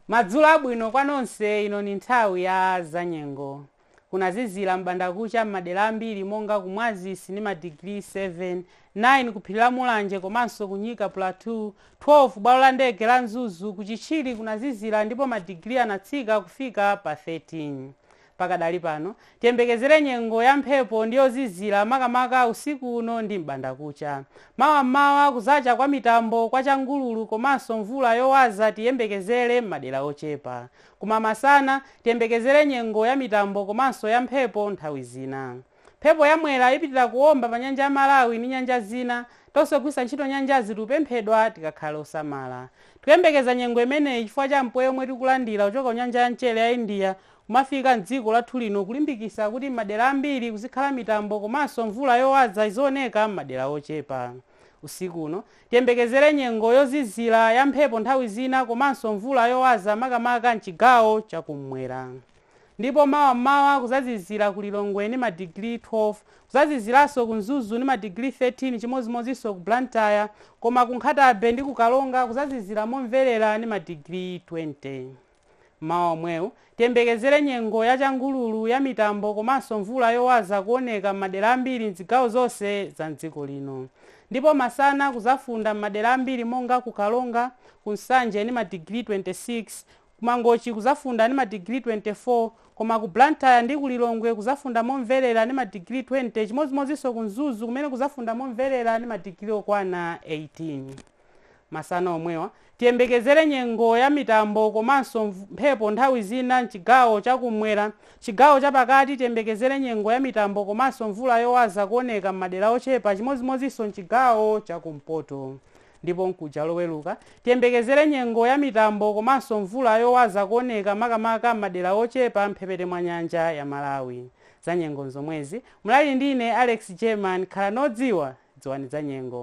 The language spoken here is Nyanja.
madzulo abwino kwa nonse ino ni nthawi ya zanyengo kunazizira m'bandakucha m'madera ambiri monga ku mwazisi ni madigiri 7 9 ku phiri la mulanje komanso ku nyika plateau 12 bwalo la ndege la mzuzu ku chichiri kunazizira ndipo madigiri anatsika kufika pa 13 Pakadali pano, tiyembekezere nyengo ya mphepo ndi yozizira makamaka usiku uno ndi m'bandakucha. Mawa m'mawa kuzacha kwa mitambo kwa changululu komanso mvula yowaza tiyembekezere m'madera ochepa. Koma masana, tiyembekezere nyengo ya mitambo komanso ya mphepo nthawi zina. Mphepo ya Mwera ipitila kuomba pa nyanja ya Malawi ni nyanja zina. Tonse ogwiritsa ntchito nyanjazi tikupemphedwa tikakhale osamala. Tikuyembekeza nyengo imeneyi chifukwa cha mpweya omwe tikulandila kuchoka ku nyanja ya mchere ya India kumafika mdziko lathu lino kulimbikisa kuti mmadera ambiri kuzikhala mitambo komanso mvula yowaza izioneka mmadera ochepa. Usiku uno, tiyembekezere nyengo yozizira, ya mphepo nthawi zina komanso mvula yowaza makamaka mchigawo cha kummwera. Ndipo mawa mmawa kuzazizira ku Lilongwe ni madigiri 12, kuzaziziranso ku Mzuzu ndi madigiri 13 chimozimozinso ku Blantyre, koma ku Nkhatabay ndi ku Karonga kuzazizira momverera ni madigiri 20. Mmawa omwewu, tiyembekezere nyengo ya changululu, ya mitambo komanso mvula yowaza kuoneka m'madera ambiri m'zigawo zonse za m'dziko lino. Ndipo masana kuzafunda m'madera ambiri monga ku Karonga, ku Nsanje ni madigiri 26, Ku Mangochi kuzafunda ni madigiri 24 koma ku Blantyre ndi ku Lilongwe kuzafunda momverera ni madigiri 20 chimozimozinso ku Mzuzu kumene kuzafunda momverera ni madigiri okwana 18. Masana omwewa, tiyembekezere nyengo ya mitambo komanso mphepo nthawi zina m'chigawo cha kummwera. Chigawo cha pakati tiyembekezere nyengo ya mitambo komanso mvula yowaza kuoneka m'madera ochepa chimozimozinso m'chigawo cha kumpoto. Ndipo mkuja Loweruka, tiyembekezere nyengo ya mitambo komanso mvula yowaza kuoneka makamaka m'madera ochepa m'mphepete mwa nyanja ya Malawi. Zanyengo nzomwezi, munali ndine Alex German, khalani odziwa, dziwani zanyengo.